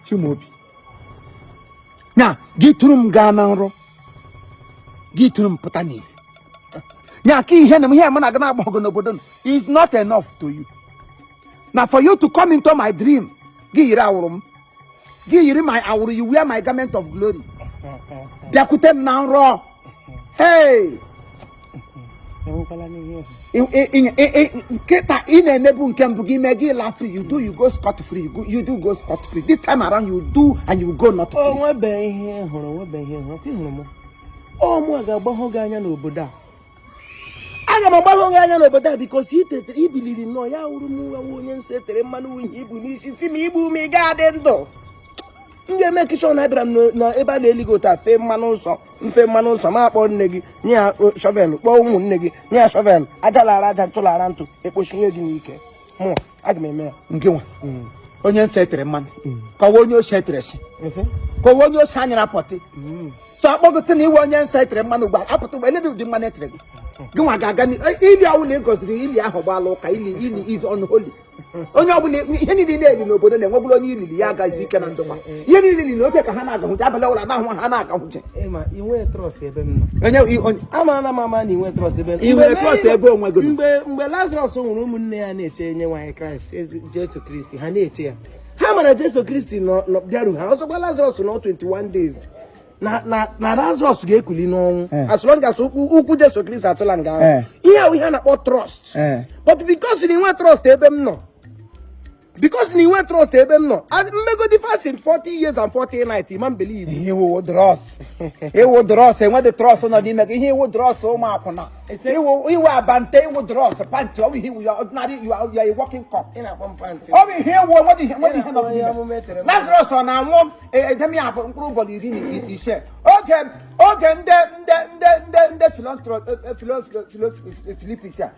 Chimaobi na gị tụrụ m gaa na nrọ gị tụrụ m pụta n'ihe ya ka ihe na ihe mụ na gị na-agba ọgụ n'obodo is not enough to you na for you to come into my dream gị yiri awụrụ m gị yiri my awụrụ you wear my garment of glory bịakwute m na nrọ hey nkịta ị na-emebu nke mbụ gị mee gị la free you do you go scot free you do go scot free this time around you do and you go not free. o nwebe ihe ị hụrụ o nwebe ihe ị hụrụ ka ị hụrụ m ọ mụ ga-agbahụ gị anya n'obodo a aga m agbahụ gị anya n'obodo a because i tetere i biliri nnọọ yie awụrụ m onye nsọ etere mmanụ uhie i bu n'isi sị na i gbuo m ị ga-adị ndụ m ga-emake sure na abịara m na ebe a na-eli gị ụta fee mmanụ nsọ m fee mmanụ nsọ m akpọọ nne gị nye ya shovel kpọọ ụmụnne gị nye ya shovel aja lara aja ntụ lara ntụ ekpochie gị n'ike mụọ aga m eme ya gị nwa mm. onye nsọ etere mmanụ mm. ka ọ wụ onye oshi etere nsị ka ọ wụ onye oshi anya na pọtị mm. so a kpọọ gị sị na ị wụ onye nsọ etere mmanụ ugbu a apụta ugbu a lebe ụdị mmanụ etere gị gị nwa ga-aga e, ili ọ wụ na ị gọziri ili ahụ gbaala ụka ili ili is unholy onye ọbụla ihe niile na-eli n'obodo na-enwebụrụ onye i lili ya agazi ike na ndụma ihe niile na oche ka ha na-agahụje abalị ọbụla na-ahụ ha na-agahụje ịma inwe trust ebe m nọ amara m ama na inwe trust ebe inwe trust ebe onwe gị mgbe mgbe lazarus nwụrụ ụmụnne ya na-eche onyenwe anyị christ e, jesu kristi ha na-eche ya ha mara jesu kristi bịaru house of lazarus nọ 21 days na lazarus ga-ekuli n'ọnwụ eh. as long as ukwu jesu kristi atụla nga ahụ eh. ihe ahụ ihe a na-akpọ trust eh. but because na inwe trust ebe m nọ because na inwe trust ebe m nọ m megodi fasting 40 years and 40 nights ị ma m believe ihe ị wụ dros ị wụ dros enwedị trust nọ n'ime gị ihe ị wụ dros ụmụ akwụna ị wụ abante ị wụ dros pant ọ bụ ihe ị wụ you are ordinary you are a walking corpse ọ bụ ihe ị wụ enwedị ihe enwedị ihe nọ n'ime lazarus ọ na-anwụ edeme ya mkpụrụ ụbọchị iri na ise oge oge ndị ndị ndị ndị ndị filantro filipis a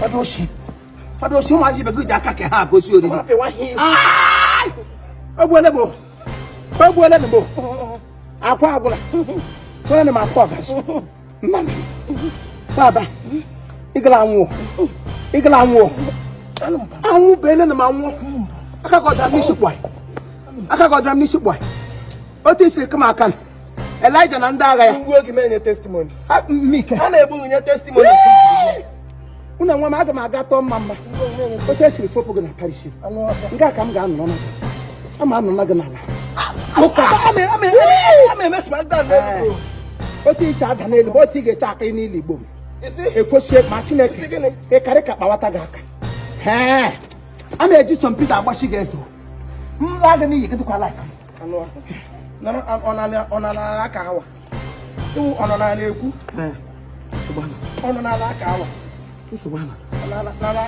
fada oshi fada oshi ụmụazị ibe gị ji aka ka ha agosi oriri o gbuole m o gbuole m akwa agwụla tụrụ m akwa ọgazi nna m baba ịgala anwụọ ịgala anwụọ anwụ bụ ele na m anwụọ aka gị dara m n'isi kpọị aka gị dara m n'isi kpọị otu i siri kaa m aka Elijah na ndị agha ya ngwa oge menye testimony ha na-ebu nye testimony unu enwe m aga m aga tọọ mma mma otu e siri fopụ gị na parish nke a ka m ga-anọ na ama anọ na gị n'ala otu isi ada n'elu ma otu ị ga-esi aka n'ili igbo m ekwesịghị ma chineke ịkarị ka kpawata gị aka a na-eji Saint Peter agbachi gị ezo mma gị n'iyi gị dịkwa like ọ nọ n'ala aka awa ị wụ ọ nọ n'ala ekwu ọ nọ n'ala aka awa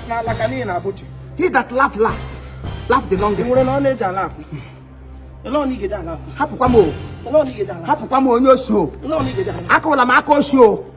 n'ala ka n'ihi na abụchi he that laugh last laugh the longest nwere na ọ na-eji ala afụ hapụkwa m hapụkwa m onye osi o akụwala m aka osi o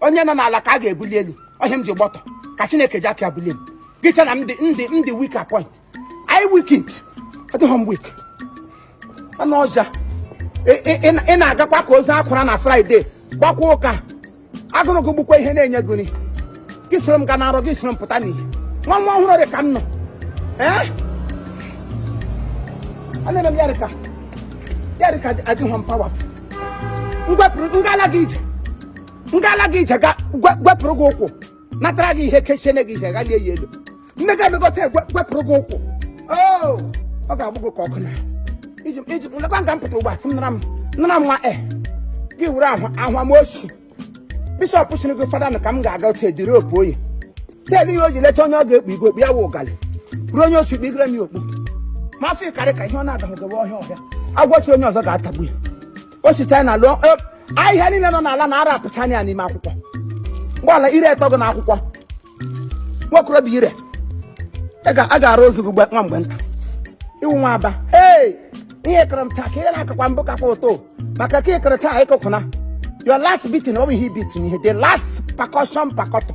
onye nọ n'ala ka a ga-ebuli elu ọ ihe m ji gbọtọ ka chineke ji aka bulie m gị che na m dị weak point anyị weakened adịghị m weak anụ ọhịa ị na-agakwa ka ozu a kwara na Friday gbakwa ụka agụrụ gụgbukwa ihe na-enye gị nri gị soro m ga na arụ gị soro m pụta n'ihe nwa nwa ọhụrụ dị ka m nọ ee a na-eme m ya dịka ya dịka adịghị m pawapụ ngala gị ije ngala gị ije ga gwe- gwepụrụ gị ụkwụ natara gị ihe kechene gị ihe ghalie ya elu nne gị emegota egwe- gwepụrụ gị ụkwụ Oo, ọ ga-agbụ gị ka ọkụ na iji iji lekwa nga m pụta ugbu a sị m nara m nara m nwa e gị wuru ahụ ahụ m archbishop sịrị gị fada na ka m ga-aga otu ediri okpu oyi teedị ya o ji lecha onye ọ ga-ekpu igwe okpu ya wụ ụgalị ruo onye osi kpigere m ya okpu ma afọ ịkarị ka ihe ọ na-adahụgowe ọhịa ọhịa agwọchi onye ọzọ ga-atagbu ya o si china lụọ e, ahịhịa niile nọ n'ala na arapụcha anya ya n'ime akwụkwọ mgbaala ire etọ gị na akwụkwọ nwokorobịa ire ị ga- a ga-arụ ozu gị gbe- nwa mgbe nta ị wụ nwa Aba ee ihe kụrụ m taa ka ihe na-akakwa mbụ kakwa ụtọ maka ka ị kụrụ taa ị kụkwụna your last beating ọ bụ ihe beating ihe the last percussion pakọtọ